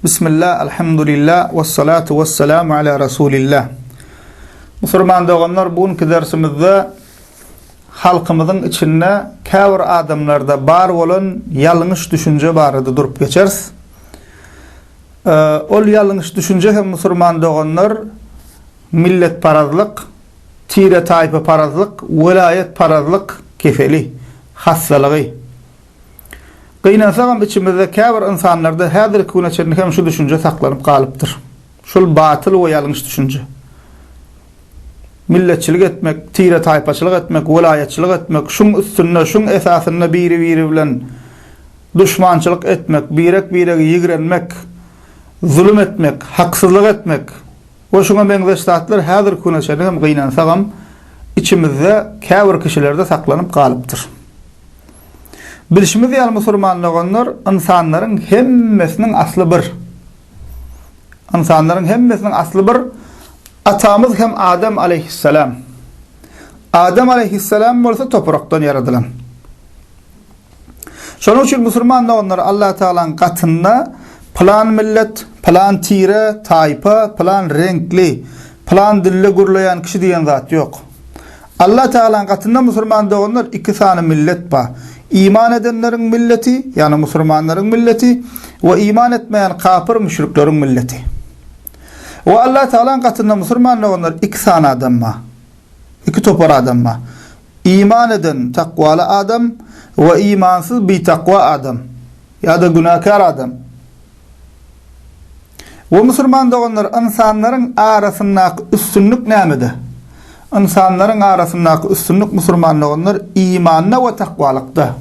Bismillah, Alhamdulillah, Vessalatu vessalamu ala Rasulillah. Musulman doganlar, bu günki dersimizde halkymyzyň içinde käbir adamlarda bar bolan ýalňyş düşünje barada durup geçeris. Ol ýalňyş düşünje hem musulman doganlar milletparazlyk, tire-taýpa parazlyk, welaýat parazlyk keseli, hassalygy. Gynansagam içimizde käbir ynsanlarda häzirki güne çenli hem şu düşünje saklanyp galypdyr. Şol batyl we ýalňyş düşünje. Milletçilik etmek, tire-taýpaçylyk etmek, welaýatçylyk etmek, şuň üstünde, şuň esasynda biri-biri bilen duşmançylyk etmek, birek-biregi ýigrenmek, zulum etmek, haksyzlyk etmek, We şuňa meňzeş zatlar häzirki güne çenli hem gynansagam, içimizde käbir kişilerde saklanyp galypdyr. Bilşimiz ýaly musulman doganlar ynsanlaryň hemmesiniň asly bir. Ynsanlaryň hemmesiniň asly bir. Atamyz hem Adam aleýhissalam. Adam aleýhissalam bolsa toprakdan ýaradylan. Şonuň üçin musulman doganlar Allatagalaň gatynda pylan millet, pylan tire, taýpa, pylan reňkli, pylan dilde gürleýän kişi diýen zat ýok. Allatagalaň gatynda musulman doganlar iki sany millet bar. Iman edenleriň milleti, ýagny musulmanlaryň milleti we iman etmeýän kapyr müşrikleriň milleti. We Allatagalaň gatynda musulman doganlar iki sany adam bar. Iki topar adam bar. Iman eden, takwaly adam we imansyz, bitakwa adam ýa-da günäkär adam. O musulman doganlar, ynsanlaryň arasyndaky üstünlik nämede? Ynsanlaryň arasyndaky üstünlik, musulman doganlar, imanda we takwalykda.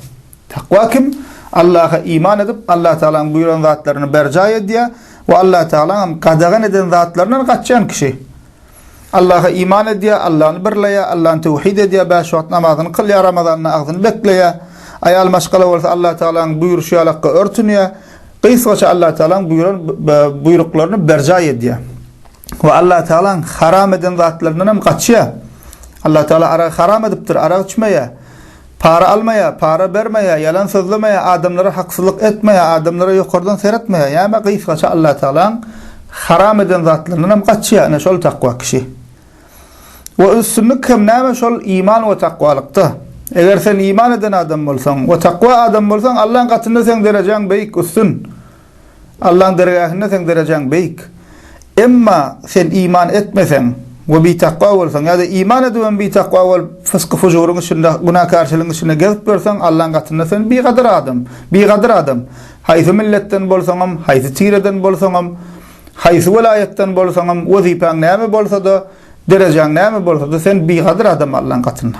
Takwa kim? Allaha iman edip, Allatagalaň buýran zatlaryny berjaý edýär we Allatagalaňam gadagan eden zatlaryndan gaçýan kişi. Allaha iman edýär, Allany birleýär, Allany töwhid edýär, bäş wagt namazyny kylýar, Ramazanda agzyny bekleýär. Aýal maşgala bolsa Allatagalaň buýruşy ýalakka örtünýär. Gysgaça Allatagalaň buýran buýruklaryny berjaý edýär. We Allatagalaň haram eden zatlaryndan hem gaçýar. Allatagala aragy haram edipdir, arak içmeýär. Para almaýa, para bermeýä, ýalan sözlemeýä, adamlara haksyzlyk etmeýä, adamlara ýokardan seretmeýä, ýa-ma gysgaça Allatagalaň haram eden zatlaryndanam gaçýa, ine şol takwa kişi. We üstünlik hem näme şol iman we takwalykda. Eger sen iman eden adam bolsaň we takwa adam bolsaň Allaň gatynda seň derejäň beýik, üstün. Allaň dergähinde seň derejäň beýik. Emma sen iman etmeseň we bitakwa bolsaň ýa-da iman edibem bitakwa bolup, fysky-fujuryň içinde, günäkärçiligiň içinde gezip ýörseň, Allaň gatynda sen bigadyr adam, bigadyr adam. Haýsy milletden bolsaňam, haýsy tireden bolsaňam, haýsy welaýatdan bolsaňam, wezipäň näme bolsa-da, derejäň näme bolsa-da, sen bigadyr adam Allaň gatynda.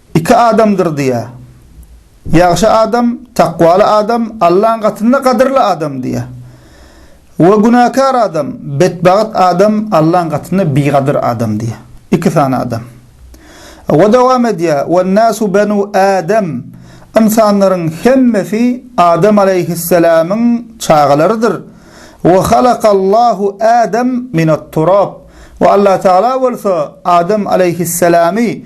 Iki adamdyr diýýär. Ýagşy adam, takwaly adam, Allaň gatynda gadyrly adam diýýär. We günäkär adam, betbagt adam, Allaň gatynda bigadyr adam diýýär. Iki sany adam. We dowam edýär, Wen-nasu benu Adam, Ynsanlaryň hemmesi Adam alaýhyssalamyň çagalarydyr. We halakallahu Adam minat-turap, we Allatagala bolsa Adam alaýhyssalamy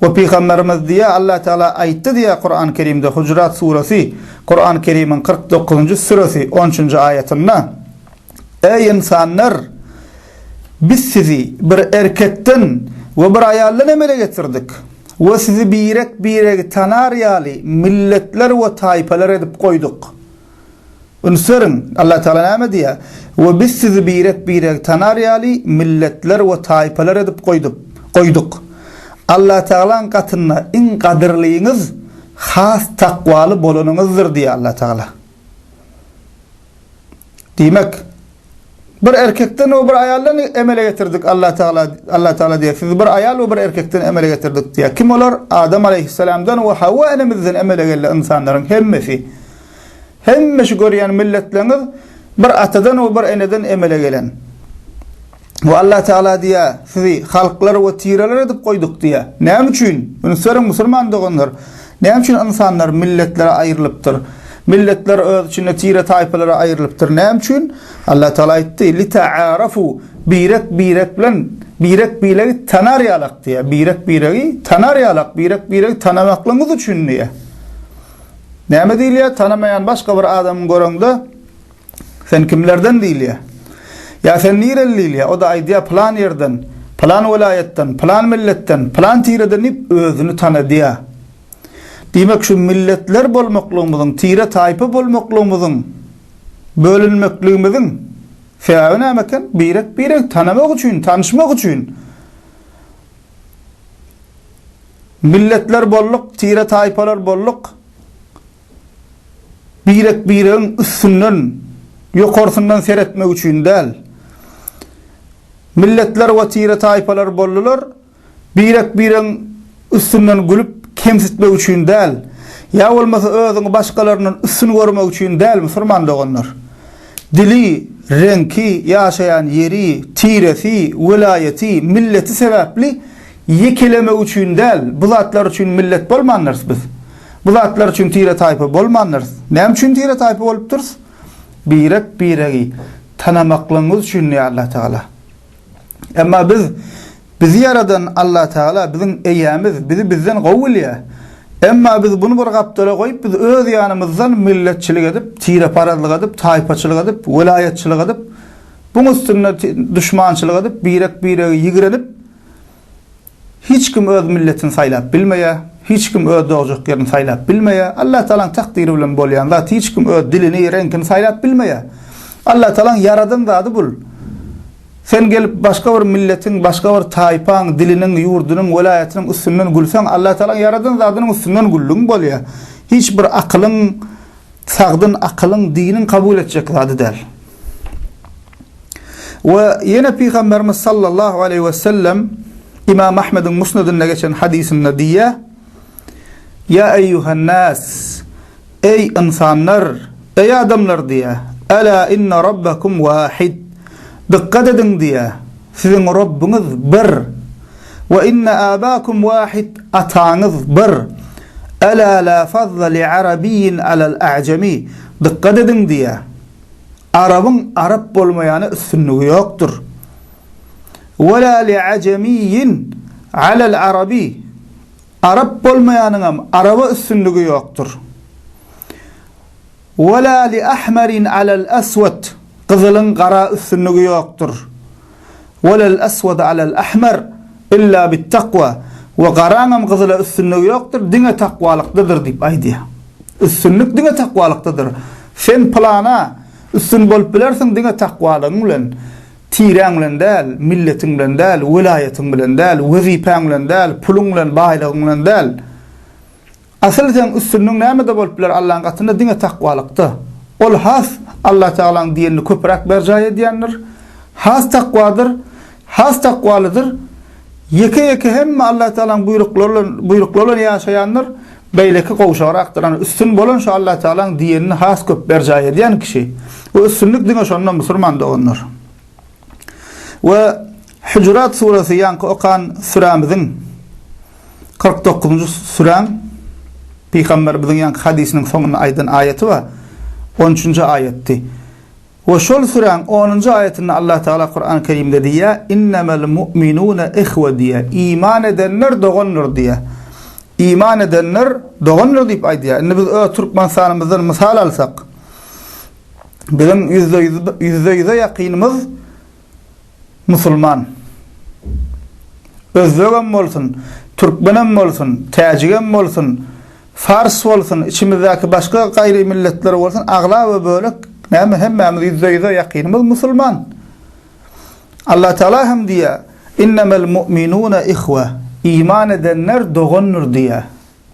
We Pygamberimiz diýýär, Allah Teala aýtdy diýýär Kurany Kerimde, Hucurat suresi, Kurany Kerimiň kyrk dokuzynjy süresi, on üçünji aýatynda, Eý ynsanlar! Biz sizi bir erkekden we bir aýaldan emele getirdik we sizi birek-biregi tanar ýaly milletler we taýpalar edip goýduk. Üns beriň, Allah Tagala näme diýýär, We Biz sizi birek-biregi tanar ýaly milletler we taýpalar edip goýdup, goýduk. Allah Tagalaň gatynda iň gadyrlyňyz has takwaly bolanyňyzdyr diýýär Allah Tagala. Diýmek. Bir erkekden we bir aýaldan emele getirdik Allah Tagala, Allah Tagala diýýär, sizi bir aýal we bir erkekden emele getirdik diýýär. Kim olar? Adam aleýhyssalamdan we Hawa enemizden emele geldi ynsanlaryň hemmesi. Hemme şu görýän milletleriňiz bir atadan we bir eneden emele gelen. We Allah Tagala diýýär, sizi halklar we tireler edip goýduk diýýär. Näme üçin? Üns beriň musulman doganlar. Näme üçin ynsanlar milletlere aýrylypdyr? Milletler öz içinde tire-taýpalara aýrylypdyr. Näme üçin? Allatagala aýtdy, Litaarafu, birek birek bilen, birek biregi tanar ýalak diýýär. Birek biregi tanar ýalak, birek biregi tanamaklygyňyz üçin diýýär. Näme diýilýär? Tanamaýan başga bir adamy göreňde, Sen kimlerden diýilýär. Ýa sen nireli diýilýär. O-da aýdýar pylan ýerden, pylan welaýatdan, pylan milletden, pylan tireden diýip özüni tanadýar. Diýmek şu milletler bolmaklygymyzyň, tire-taýpa bolmaklygymyzyň, bölünmekligimiziň sebäbi näme eken? Birek-biregi tanamak üçin, tanyşmak üçin. Milletler bolduk, tire-taýpalar bolduk. Birek-biregiň üstünden, ýokarsyndan seretmek üçin däl. Milletler we tire-taýpalar boldular, birek-biregiň üstünden gülüp, kemsitmek üçin däl, ýa bolmasa özüňi başgalaryndan üstün görmek üçin däl, musulman doganlar. Dili, reňki, ýaşaýan ýeri, tiresi, welaýaty, milleti sebäpli ýekelemek üçin däl, bu zatlar üçin millet bolmandyrys biz. Bu zatlar üçin tire-taýpa bolmandyrys. Näme üçin tire-taýpa bolupdyrys? Birek-biregi tanamaklygymyz üçin diýýär Allatagala. Emma biz bizi ýaradan Allatagala biziň eýämiz, bizi bizden gowy bilýär. Emma biz buny bir gapdala goýup, biz öz ýanymyzdan milletçilik edip, tireparazlyk edip, taýpaçylyk edip, welaýatçylyk edip, buň üstünde duşmançylyk edip, birek-biregi ýigrenip, Hiç kim öz milletini saýlap bilmeýär, hiç kim öz dogajak ýerini saýlap bilmeýär. Allatagalaň takdyry bilen bolýan zat, hiç kim öz dilini, reňkini saýlap bilmeýär. Allatagalaň ýaradan zady bul. Sen gelip başga bir milletiň, başga bir taýpaň, diliniň, ýurdunyň, welaýatynyň üstünden gülseň, Allatagalaň ýaradan zadynyň üstünden güldüň bolýar. Hiç bir akylyň, sagdyn akylyň, diniň kabul etjek zady däl. We ýene Pygamberimiz sallallahu aleýhi we sellem Imam Ahmediň Musnedinde geçen hadysynda diýýär, Ýa eýýuhan nas, eý ynsanlar, eý adamlar diýýär, Ela inne Rabbakum wahid, dykgat ediň diýýär, siziň Rabbyňyz bir, we inne abakum wahid, ataňyz bir, Ela la fazla li arabiyyin alal a'jami, dykgat ediň diýýär, Arabyň arap bolmaýana üstünligi ýokdur. Wela li ajemiyyin alel arabi, Arap bolmaýanyňam araba üstünligi ýokdur. Wela li ahmarin alel aswat, Gyzylyň gara üstünligi ýokdur. Wa lal aswada alal ahmar illa bit takwa, we garaňam gyzyla üstünligi ýokdur, diňe takwalykdadyr diýip aýdýar. Üstünlik diňe takwalykdadyr. Sen pylana üstün bolup bilersiň diňe takwalygyň bilen. Tireň bilen däl, milletiň bilen däl, welaýatyň bilen däl, wezipäň bilen däl, puluň bilen, baýlygyň bilen däl. Asyl seň üstünligiň nämede bolup biler Allaň gatynda diňe takwalykda. Ol has Allah Tagalaň diýenini köpüräk berjaý edýändir. Has takwadyr, has takwalydyr. Ýeke ýeke hemme Allah Tagalaň buýruklary buýruklary bilen ýaşaýandyr. Beýleki gowşagrakdyr. Ana üstün bolan şu Allah Tagalaň diýenini has köp berjaý edýän kişi. Bu üstünlik diňe şonda musurman doganlar. We Hüjurat suresi ýaňky okan sürämiziň kyrk dokuzynjy süräň Pygamberimiziň ýaňky hadysynyň soňunda aýdan aýaty bar. On üçünji aýatdy. We şol süräň onunjy aýatynda Allah Tagala Kurany Kerimde diýýär, Innemel mu'minune ihwe diýýär. Iman edenler dogandyr diýýär. Iman edenler dogandyr diýip aýdýar. Indi biz öz Türkmenistanymyzdan mysal alsak, Biziň ýüzde-ýüze ýakynymyz musulman. Özbegem bolsun, türkmenem bolsun, täjigem bolsun, fars bolsun, içimizdäki başga gaýry milletler bolsun, aglaba bölek näme hemmämiz ýüzde-ýüze ýakynymyz musulman. Allatagala hem diýýär, Innemel mu'minune ihwe, iman edenler dogandyr diýýär.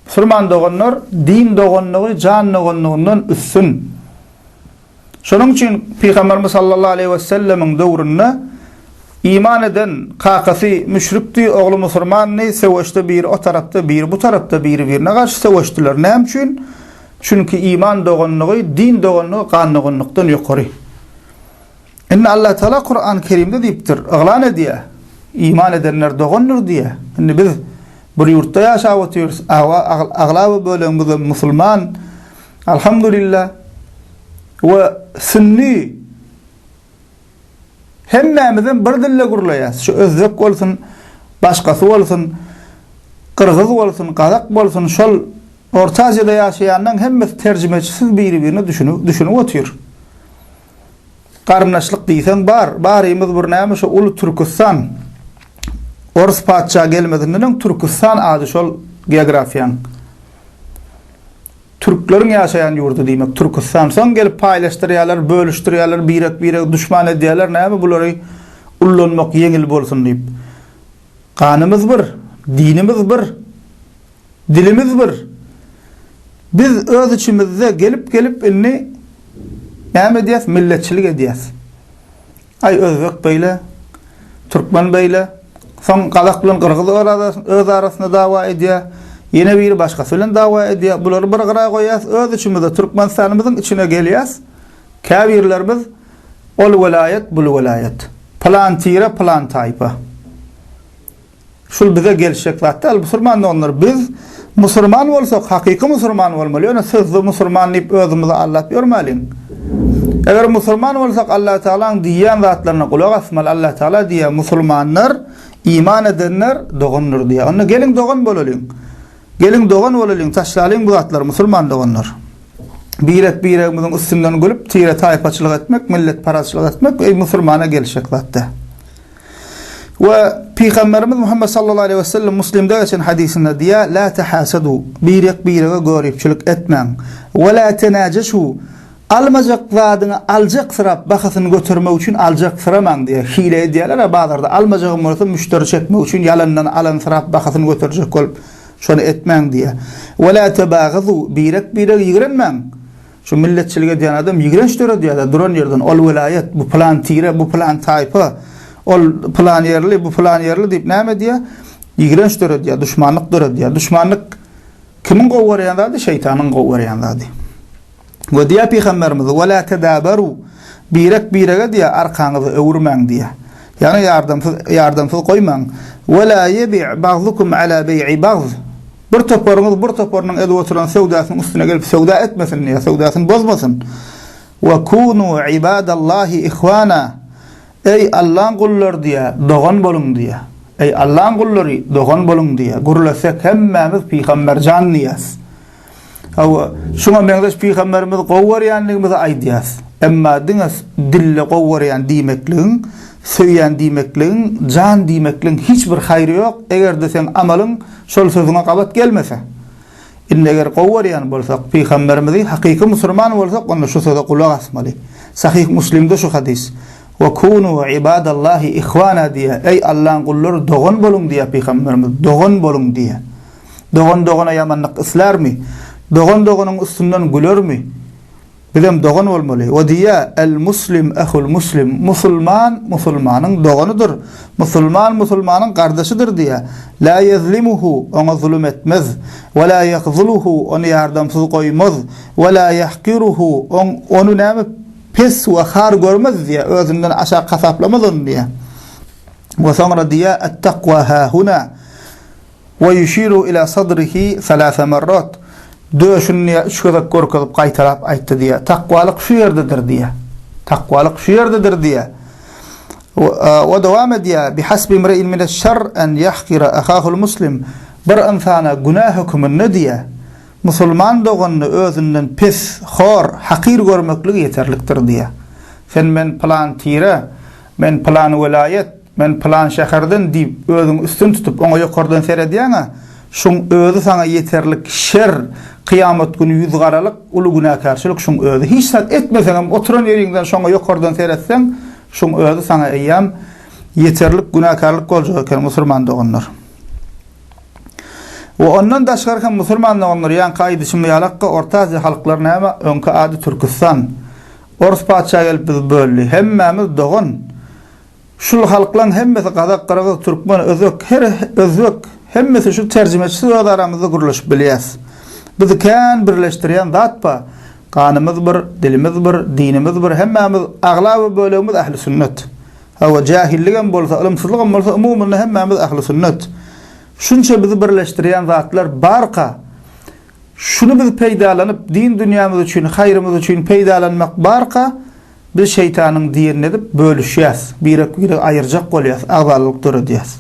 Musulman doganlar din doganlygy jan doganlygyndan üstün. Şonuň üçin Pygamberimiz sallallahu aleýhi we sellemiň döwründe iman eden kakasy müşrikdi, ogly musulmandy, söweşde biri o tarapda, biri bu tarapda biri-birine garşy söweşdiler. Näme üçin? Çünki iman doganlygy din doganlygy gan doganlykdan ýokary. Indi Allatagala Kurany Kerimde diýipdir, yglan edýär, Iman edenler dogandyr diýýär. Indi biz bir ýurtda ýaşap otyrys, aglaba bölegimizem musulman, Alhamdulillah, we sünni, hemmämizem bir dilde gürleýäs, şu özbek bolsun, başgasy bolsun, gyrgyz bolsun, gazak bolsun, şol Orta Aziýada ýaşaýanlaň hemmesi terjimeçisiz biri-birine düşünip otyr. Garyndaşlyk diýseň bar. Barymyz bir näme şu uly Türküstan. Orus patyşa gelmezinden öň Türküstan ady şol geografiýaň. Türkleriň ýaşaýan ýurdy diýmek Türküstan. Soň gelip paýlaşdyrýarlar, bölüşdirýärler, birek-biregi duşman edýärler. Näme bulary ullanmak ýeňil bolsun diýip. Ganymyz bir, dinimiz bir. Dilimiz bir. Biz öz içimizde gelip-gelip indi näme edýäs, milletçilik edýäs. Aý, özbek beýle, türkmen beýle, soň gazak bilen gyrgyz öz arasynda dawa edýär, ýene biri başgasy bilen dawa edýär. Bulary bir gyra goýýas, öz içimizde Türkmenistanymyzyň içine gelýäs, käbirlerimiz ol welaýat, bul welaýat, pylan tire, pylan taýpa. Şul bize gelişjek zat däl musurman doganlar biz musurman bolsak hakyky musurman bolmaly ýöne sözde musurman diýip özümizi aldap ýörmäliň. Eger musurman bolsak Allah Tagalaň diýýän zatlaryna gulak asmaly Allah Tagala diýýär musulmanlar iman edenler dogandyr diýýär onda geliň dogan bolalyň. Geliň dogan bolalyň taşlalyň bu zatlary musurman doganlar. Birek biregimiziň üstünden gülüp tire taýpaçylyk etmek milletparazçylyk etmek eý musurmana gelişjek zat däl. We Pygamberimiz Muhammed sallallahu aleýhi we sellem Muslimde geçen hadysynda diýýär, La tahasadu, birek birege göripçilik etmäň. We la tenajesu, almajak zadyňy aljaksyrap bahasyny götermek üçin aljaksyramaň diýýär. Hile edýärler-ä bazarda, almajagym bolsa müşderi çekmek üçin ýalandan alansyrap bahasyny göterjek bolup, şony etmäň diýýär. We la tebagazu, birek birege ýigrenmäň. Şu milletçilik edýän adam ýigrenç döredýär-de duran ýerden ol welaýat, bu pylan tire, bu pylan taýpa, ol pylan ýerli, bu pylan ýerli diýip näme edýär? Ýigrenç döredýär, duşmanlyk döredýär. Duşmanlyk kimiň gowy görýän zady? Şeýtanyň gowy görýän zady. We diýär pygamberimiz: "Wa la tadabaru" Birek-birege diýär, arkaňyzy öwürmäň diýär. Ýagny ýardamsyz ýardamsyz goýmaň. "Wa la ýebi' bagdukum ala beý'i bagd" Bir toparyňyz bir toparynyň edip oturan söwdasynyň üstüne gelip söwda etmesin ýa söwdasyny bozmasyn. Wa kunu ibadallahi ihwana, Eý, Allaň gullary diýýä, dogan boluň diýýä. Eý, Allaň gullary, dogan boluň diýýä. Gürlesek hemmämiz pygamberjan diýýäs. Hawa, şuňa meňzeş pygamberimizi gowy görýändigimizi aýdýarys. Emma diňe dille gowy görýän diýmekligiň, söýýän diýmekligiň, jan diýmekligiň hiç bir haýry ýok, eger-de seň amalyň şol sözüňe gabat gelmese. Indi eger gowy görýän bolsak pygamberimizi, hakyky musurman bolsak onda şu söze gulak asmaly. Sahyh Muslimde şu hadys. Wa kunu ibadallahi ihwana diýýär. Eý Allaň gullary dogan boluň diýýär pygamberimiz. Dogan boluň diýýär. Dogan dogana ýamanlyk islärmi? Dogan doganyň üstünden gülermi? Bizem dogan bolmaly. We diýýär, El muslim ehul muslim, musulman musulmanyň doganydyr, musulman musulmanyň gardaşydyr diýýär. La ýezlimuhu, oňa zulum etmez. We la ýahzuluhu, ony ýardamsyz goýmaz. We la ýahkiruhu, oň ony näme pes we har görmez diýýär, özünden aşak hasaplamaz ony diýýär. We soňra diýýär, Ettakwa hahuna. Wa ýuşiru ila sadrihi salasa marrat, Döşüni diýýär, üç gezek görkezip, gaýtalap aýtdy diýýär, Takwalyk şu ýerdedir diýýär. Takwalyk şu ýerdedir diýýär. Wa dowam edýär, Bihasbi imri'in mineş-şerr en ýahkira ahahul muslim, Bir ynsana günä höküminde diýýär, Musulman doganyny özünden pes, hor, hakyr görmekligi ýeterlikdir diýýär. Sen men pylan tire, men pylan welaýat, Men pylan şäherden diýip özüňi üstün tutup oňa ýokardan seredýäňä, şuň özi saňa ýeterlik şer, kyýamat güni ýüz garalyk, uly günäkärçilik şuň özi. Hiç zat etmeseňem oturan ýeriňden şoňa ýokardan seretseň, şuň özi saňa eýýäm ýeterlik günäkärlik boljak eken musurman doganlar. We ondan daşgary hem musurman doganlar ýaňky aýdyşym ýalakka Orta Aziýa halklary näme öňki ady Türküstan. Orus patyşa gelip bizi böldi. Hemmämiz dogan. Şul halklaň hemmesi gazak gyrgyz türkmen özbek her özbek hemmesi şu terjimeçisiz öz aramyzda gürleşip bilýäs. Bizi kän birleşdirýän zat ba ganymyz bir dilimiz bir dinimiz bir hemmämiz aglaba bölegimiz ähli sünnet. Hawa jähilligem bolsa ylymsyzlygam bolsa umumynda hemmämiz ähli sünnet. Şunça bizi birleşdirýän zatlar barka şuny biz peýdalanyp din dünýämiz üçin haýrymyz üçin peýdalanmak barka Biz şeýtanyň dirini edip bölüşýäs, birek-biregi aýyrjak bolýas, agzalalyk döredýäs.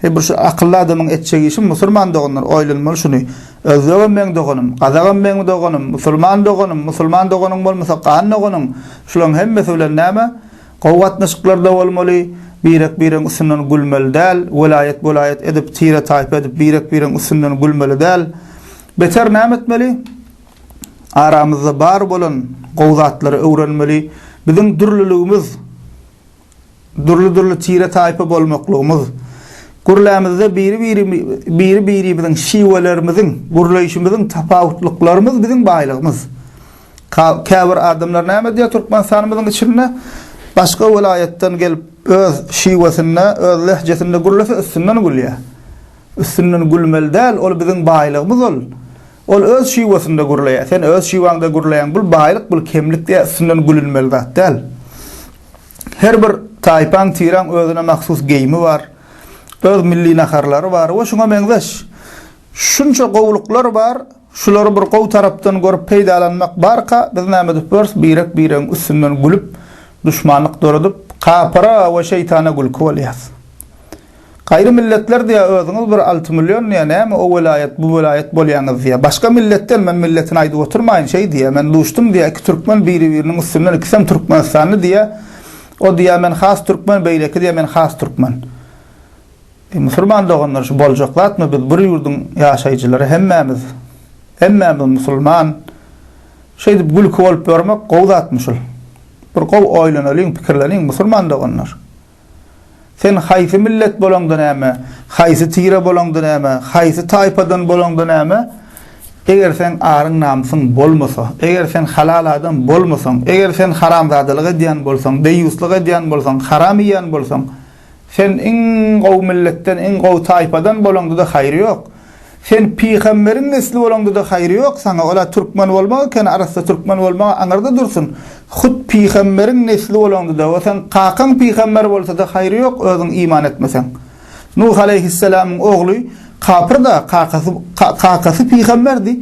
Eý bir şu akylly adamyň etjek işi musulman doganlar oýlanmaly şuny, özbegem meň doganym, gazagam meň doganym, musulman doganym, musulman doganyň bolmasa gan doganyň, şularyň hemmesi bilen näme, gowy gatnaşyklarda bolmaly, birek-biregiň üstünden gülmeli däl, welaýat-welaýat edip, tire-taýpa edip birek-biregiň üstünden gülmeli däl. Beter näme etmeli? aramyzda bar bolan gowy zatlary öwrenmeli. Biziň dürlüligimiz, dürli-dürli tire-taýpa bolmaklygymyz, gürlämizde biri-birimiziň, şiwelerimiziň, gürleýşimiziň tapawutlyklarymyz biziň baýlygymyz. Käbir adamlar näme diýýär, Türkmenistanymyzyň içinde başga welaýatdan gelip, öz şiwesinde, öz lehjesinde gürlese üstünden gülýär. Üstünden gülmeli däl, ol biziň baýlygymyz ol. Ol öz şiwasynda gürleýär. Sen öz şiwaňda gürleýäň. Bul baýlyk, bul kemlik diýýär. Üstünden gülünmeli zat däl. Her bir taýpaň, tiraň özüne mahsus geýimi bar. Öz milli naharlary bar we şuňa meňzeş. Şunça gowulyklar bar. Şulary bir gowy tarapdan görüp peýdalanmak barka, biz näme edip bileris? Birek-biregiň üstünden gülüp, duşmanlyk döredip, kapyra we şeýtana gülki bolýarys. Gaýry milletler diýýär özüňiz bir alty million diýýär näme o welaýat bu welaýat bolýaňyz diýýär. Başga millet däl men milletini aýdyp oturmaýyn şeý diýýär men duşdum diýýär iki türkmen biri biriniň üstünden ikisem türkmenistanly diýýär o diýýär men has türkmen beýleki diýýär men has türkmen. Eý musulman doganlar şu boljak zatmy biz bir ýurduň ýaşaýjylary hemmämiz hemmämiz musulman şeýdip gülki bolup ýörmek gowy zatmy şul bir gowy oýlanalyň pikirleniň musulman doganlar. Sen haýsy millet bolaňda näme, haýsy tire bolaňda näme, haýsy taýpadan bolaňda näme, eger seň aryň-namysyň bolmasa, eger sen halal adam bolmasaň, eger sen haramzadalyk edýän bolsaň, deýýuslyk edýän bolsaň, haram iýýän bolsaň, sen iň gowy milletden, iň gowy taýpadan bolaňda-da haýry ýok. Sen pygamberiň nesli bolaňda-da haýry ýok saňa, ol-a türkmen bolmak ekeni, arassa türkmen bolmagy aňyrda dursun. Hut pygamberiň nesli bolaňda-da we seň kakaň pygamber bolsa-da haýry ýok, özüň iman etmeseň. Nuh aleýhisselamyň ogly kapyrda, kakasy, kakasy pygamberdi,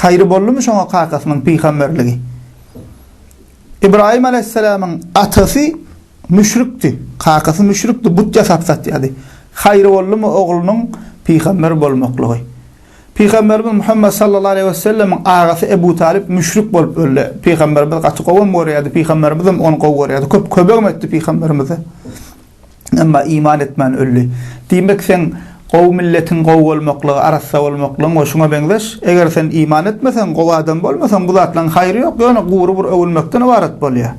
haýry boldumy şoňa kakasynyň pygamberligi? Ybraýym alaýhyssalamyň atasy müşrikdi, kakasy müşrikdi, but ýasap satýardy. Haýry boldumy oglunyň pygamber bolmaklygy. Pygamberimiz Muhammet sallallahu aleýhi wesellemiň agasy Ebu Talyp müşrik bolup öldi. Pygamberimiz gaty gowam görýärdi, pygamberimiz hem ony gowy görýärdi. Köp kömegem etdi pygamberimize. Emma iman etmän öldi. Diýmek, seň gowy milletiň gowy bolmaklygy, arassa bolmaklygyň we şuňa meňzeş, eger sen iman etmeseň, gowy adam bolmasaň, bu zatlaryň haýry ýok, ýöne gury bir öwünmekden ybarat bolýar.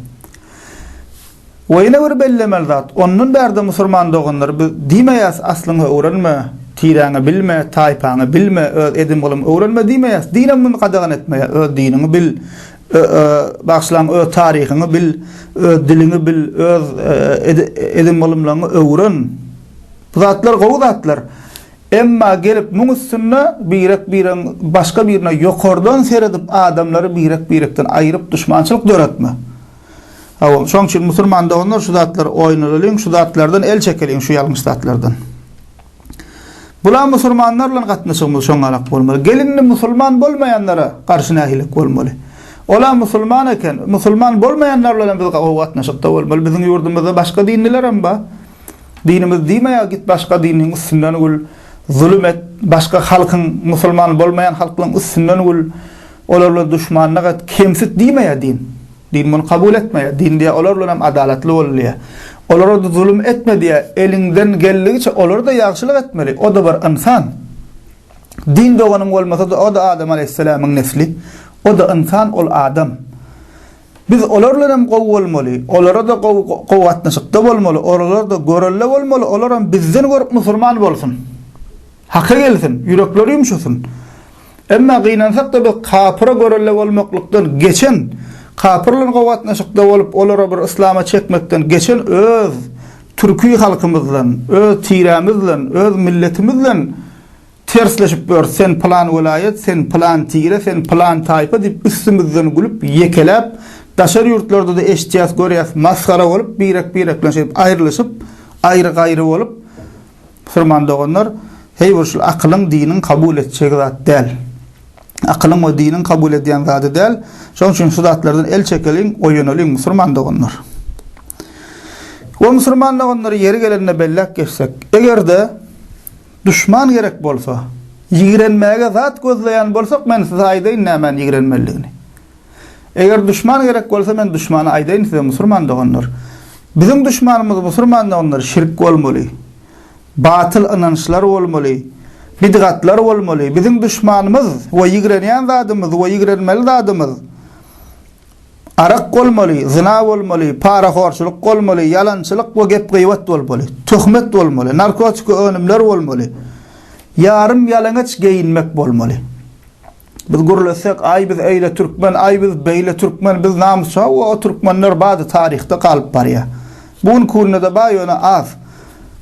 We ýene bir bellemeli zat, ondan bärde musurman doganlar biz diýmeýäs, aslyňy öwrenme, tiräňi bilme, taýpaňy bilme, öz edim-gylym öwrenme diýmeýäs, din hem muny gadagan etmeýär, öz diniňi bil, Ö-ö, bagşlaň öz taryhyňy bil, öz diliňi bil, öz edim-gylymlaňy öwren. Bu zatlar gowy zatlar. Emma gelip muň üstünde birek-biregiň başga birine ýokardan seredip adamlary birek-birekden aýryp duşmançylyk döretme. Hawa, şoň üçin musulman doganlar şu zatlary oýnalalyň, şu zatlardan el çekeliň, şu ýalňyş zatlardan. Bula musulmanlar bilen gatnaşygymyz şoňalak bolmaly. Gelinli musulman bolmaýanlara garşy nähililik bolmaly? Ola musulman eken, musulman bolmaýanlar bilen hem biz gowy gatnaşykda bolmaly. Biziň ýurdumyzda başga dinliler hem bar. Dinimiz diýmeýär, git başga diniň üstünden gül, zulum et, başga halkyň, musulman bolmaýan halklaryň üstünden gül, olar bilen duşmanlyk et, kemsit diýmeýär din. Din muny kabul etmeýär. Din diýýär, olar bilen hem adalatly bol diýýär. Olara-da zulum etme diýýär. Eliňden geldigiçe olara-da ýagşylyk etmeli. O-da bir ynsan. Din doganyň bolmasa-da, o-da Adam alaýhyssalamyň nesli. O-da ynsan, ol adam. Biz olar bilen hem gowy bolmaly. Olara-da gowy, gowy gatnaşykda bolmaly. Olara-da görelde bolmaly. Olar hem bizden görüp musurman bolsun. Haka gelsin. Ýürekleri ýumşasyn. Emma gynansak-da biz kapyra görelde bolmaklykdan geçen, kapyr bilen gowy gatnaşykda bolup, olary bir yslama çekmekden geçen öz türki halkymyzdan, öz tirämizden, öz milletimizden tersleşip ýörüs, sen pylan welaýat, sen pylan tire, sen pylan taýpa diýip üstümizden gülüp, ýekeläp, daşary ýurtlarda-da eşitýäs, görýäs, masgara bolup, birek-birek bilen şeýdip aýrylyşyp, aýry-gaýry bolup, Musulman doganlar, heý bu şul akylyň, diniň kabul etjek zat däl. Akylyň we diniň kabul edýän zady däl. Şonuň üçin şu zatlardan el çekeliň, oýanalyň, musulman doganlar. We musulman doganlar, ýeri gelende belläp geçsek, eger-de duşman gerek bolsa, ýigrenmäge zat gözleýän bolsak, men size aýdaýyn nämäni ýigrenmelidigini. Eger duşman gerek bolsa men duşmana aýdaýyn size musurman doganlar. Biziň duşmanymyz musurman doganlar şirk bolmaly. Batyl ynançlar bolmaly. Bidgatlar bolmaly. Biziň duşmanymyz we ýigrenýän zadymyz we ýigrenmeli zadymyz arak bolmaly, zyna bolmaly, parahorçylyk bolmaly, ýalançylyk we gep-gybat bolmaly. Töhmet bolmaly, narkotiki önümler bolmaly. Ýarym ýalaňaç geýinmek bolmaly. Biz gürlesek, aý biz eýle türkmen, aý biz beýle türkmen, biz namys hawa o türkmenler bady taryhda galyp barýa. Bu günki günde-de bar ýöne az.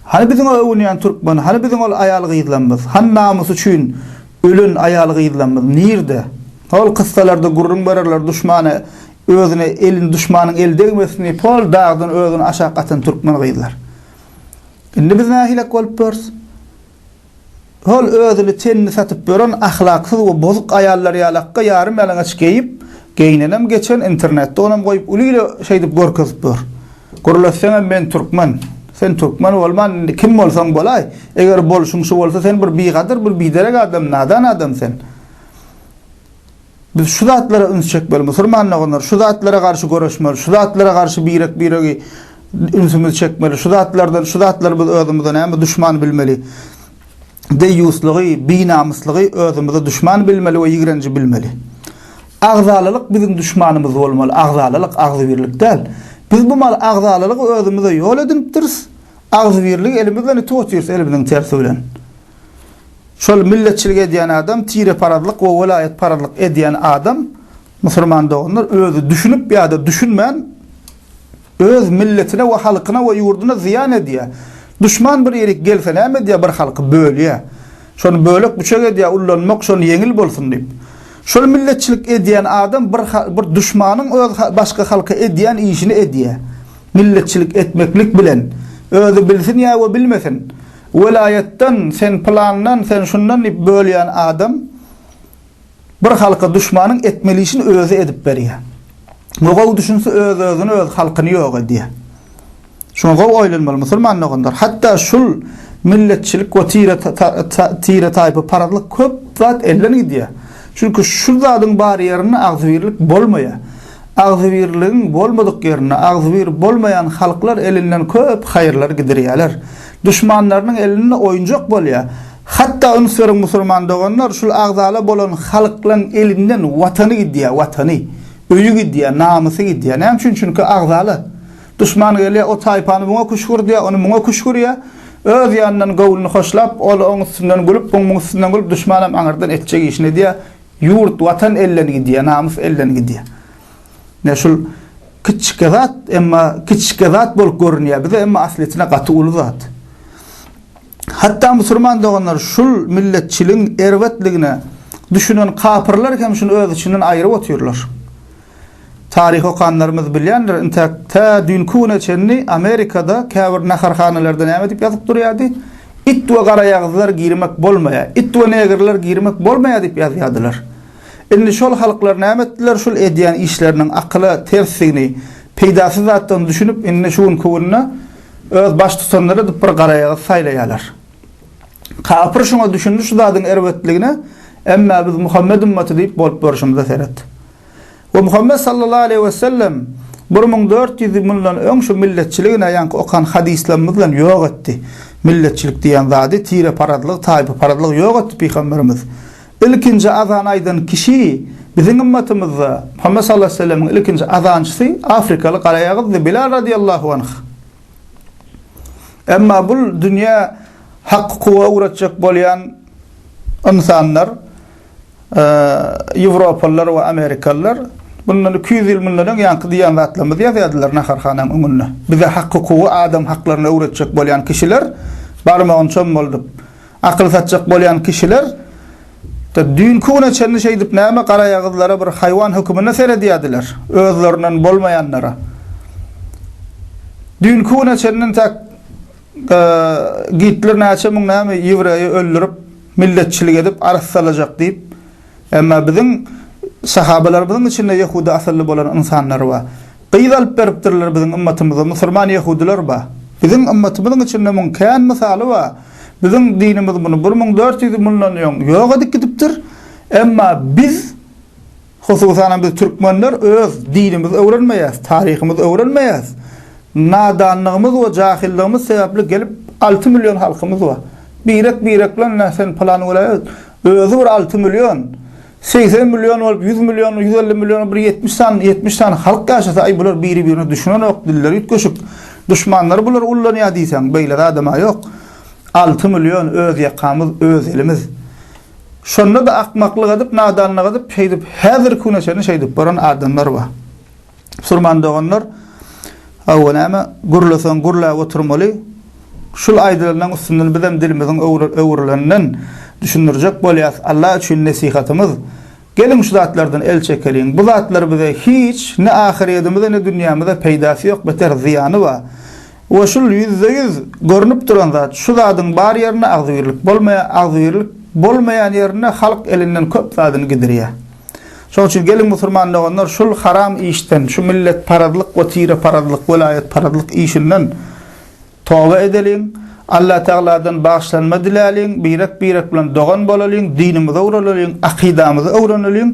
Hany biziň o öwünýän türkmen, hany biziň ol aýal gyzlamyz, hany namysy üçin ölen aýal gyzlamyz nirde? Hol kyssalarda gürrüň bererler duşmana özüne elin duşmanyň eli degmesin diýip hol dagdan özüni aşak atan türkmen gyzlar. Indi biz nähilek bolup ýörüs? Hol özüni tenini satyp ýören ahlaksyz we bozuk aýallar ýaly akga ýarym ýalaňaç geýip geýnenem geçen internetde onam goýup uly ile şeýdip görkezip ýör. Gürleseňem men türkmen. Sen türkmen bolman indi kim bolsaň bolaý. Eger bolşuň şu bolsa sen bir bigadyr bir biderek adam nadan adam sen. Biz şu zatlara üns çekmeli, musulman doganlar, şu zatlara garşy göreşmeli, şu zatlara garşy birek-biregi ünsümizi çekmeli, şu zatlardan, şu zatlary biz özümize näme duşman bilmeli. Deýýuslygy, binamyslygy özümize duşman bilmeli we ýigrenji bilmeli. Agzalalyk biziň duşmanymyz bolmaly, agzalalyk, agzybirlik däl. Biz bu mal agzalalygy özümize ýol edinipdiris, agzybirligi elimizden itup otyrys, elimiziň tersi bilen. Şol milletçilik edýän adam, tireparazlyk we welaýatparazlyk edýän adam, musulman doganlar, özi düşünip ýa-da düşünmän öz milletine we halkyna we ýurduna zyýan edýär. Duşman bir ýerik gelse näme edýär? Bir halky bölýär. Şony bölek-büçek edýär, ullanmak şony ýeňil bolsun diýip. Şol milletçilik edýän adam bir bir duşmanyň öz başga halka edýän işini edýär. Milletçilik etmeklik bilen özi bilsin ýa we bilmesin, Welaýatdan sen plandan, sen şundan diýip bölýän adam bir halka duşmanyň etmeli işini özi edip berýär. Bu gowy düşünse öz-özüni öz halkyny ýok edýär. Şuňa gowy oýlanmaly musulman doganlar. Hatda şul milletçilik we tire tire taýpa parazlyk köp zat elden gidýär. Çünki şul zadyň bar ýerinde agzybirlik bolmaýar. Agzybirligiň bolmadyk ýerinde agzybir bolmaýan halklar elinden köp haýyrlar gidirýärler. Duşmanlarynyň elinde oýunjak bolýar. Hatda üns beriň musulman doganlar, şul agzala bolan halklaň elinden watany gidýär, watany. Öýi gidýär, namysy gidýär. Näme üçin? Çünki agzala. Duşman gelýär, o taýpany muňa küşgürdýär, ony muňa küşgürýär. Öz ýanyndan göwnüni hoşlap, ol oň üstünden gülüp, bu muň üstünden gülüp, duşmanam aňyrdan etjek işini edýär. Ýurt, watan elden gidýär, namys elden gidýär. Ine şul kiçike zat, emma kiçike zat bolup görünýär bize, emma aslyçyna gaty uly zat. Hatda musulman doganlar şul milletçiligiň erbetligine düşünen kapyrlar hem şuny öz içinden aýyryp otyrlar. Taryh okanlarymyz bilýändir, intäk tä düýnki güne çenli Amerikada käbir naharhanalarda näme diýip ýazyp durýardy? It we garaýagyzlar girmek bolmaýar, it we negrler girmek bolmaýar diýip ýazýardylar. Indi şol halklar näme etdiler, şul edýän işleriniň akyla tersdigini, peýdasyz zatdygyny düşünip, indi şu günki günde öz baştutanlary edip bir garaýagyz saýlaýarlar. Kapyr şuňa düşündi şu zadyň erbetligine, Emma biz Muhammet ümmaty diýip bolup görşümize seret. We Muhammet sallallahu aleyhi we sellem bir müň dört ýüz ýyldan öň şu milletçiligine ýaňky okan hadyslarymyz bilen ýok etdi. Milletçilik diýen zady, tireparazlyk, taýpaparazlyk ýok etdi Pygamberimiz. Ilkinji azan aýdan kişi biziň ymmatymyzda Muhammet sallallahu aleýhi we sellemiň ilkinji azançysy afrikaly garaýagyzdy Bilal radiyallahu anh. Emma bul dünýä Hak kuwa ugratjak bolýan ynsanlar ýewropalylar we amerikalylar bundan iki ýüz ýyl mundan öň ýaňky diýen zatlarymyzy ýazýardylar naharhanaň öňünde. Bize Hak kuwa adam haklaryny öwretjek bolýan kişiler barmagyny çommaldyp Akyl satjak bolýan kişiler de düýnki güne çenli şeýdip näme garaýagyzlara bir haýwan höküminde seredýärdiler, özlerinden bolmaýanlara. Düýnki güne çenli intäk Gitler näçe müň näme ýewreýi öldürip, milletçilik edip, arassalajak diýip, Emma biziň sahabalarymyzyň içinde ýehudy asylly bolan ynsanlar bar. Gyz alyp beripdirler biziň ymmatymyza musulman ýehudylar bar. Biziň ymmatymyzyň içinde muň kän mysaly bar. Biziň dinimiz muny bir müň dört ýüz mundan öň ýok edip gidipdir. Emma biz, hususan hem biz türkmenler öz dinimizi öwrenmeýäs, taryhymyzy öwrenmeýäs. Nadanlygymyz we jahylygymyz sebäpli gelip alty million halkymyz bar. Birek-birek bilen, Nä sen pylan welaýat, Özi bir alty million, segsen million bolup, ýüz million, ýüz elli million bir ýetmiş sany, ýetmiş sany halk ýaşasa, aý bular biri-birine düşünenok, dilleri üýtgeşik. Duşmanlary bulary ullanýar diýseň, beýle zad-ä ýok. Alty million öz ýakamyz, öz elimiz. Şonda-da akmaklyk edip, nadanlyk edip, şeýdip, häzirki güne çenli şeýdip bolan adamlar bar. Musulman doganlar, hawa näme, gürleseň gürläp oturmaly. Şul aýdylanyň üstünden bizem dilimiziň öwrüleninden düşündirjek bolýas. Allah üçin nesihatymyz, geliň şu zatlardan el çekeliň. Bu zatlar bize hiç, ne ahyryedimize ne dünýämize peýdasy ýok, beter zyýany bar. We şul ýüzde ýüz görnüp duran zat, şu zadyň bar ýerinde agzybirlik bolmaýar, agzybirlik bolmaýan ýerinde halk elinden köp zadyny gidirýär. Şoň üçin geliň musurman doganlar şul haram işden, şu milletparazlyk we tireparazlyk, welaýatparazlyk işinden toba edeliň, Allatagaladan bagyşlanma diläliň, birek-birek bilen dogan bolalyň, dinimize uralalyň, akydamyzy öwreneliň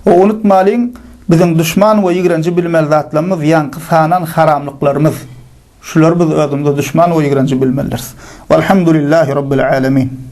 we unutmalyň, biziň duşman we ýigrenji bilmeli zatlarymyz ýaňky sanan haramlyklarymyz. Şulary biz özümize duşman we ýigrenji bilmelidiris. Walhamdulillahi Rabbil Alemin.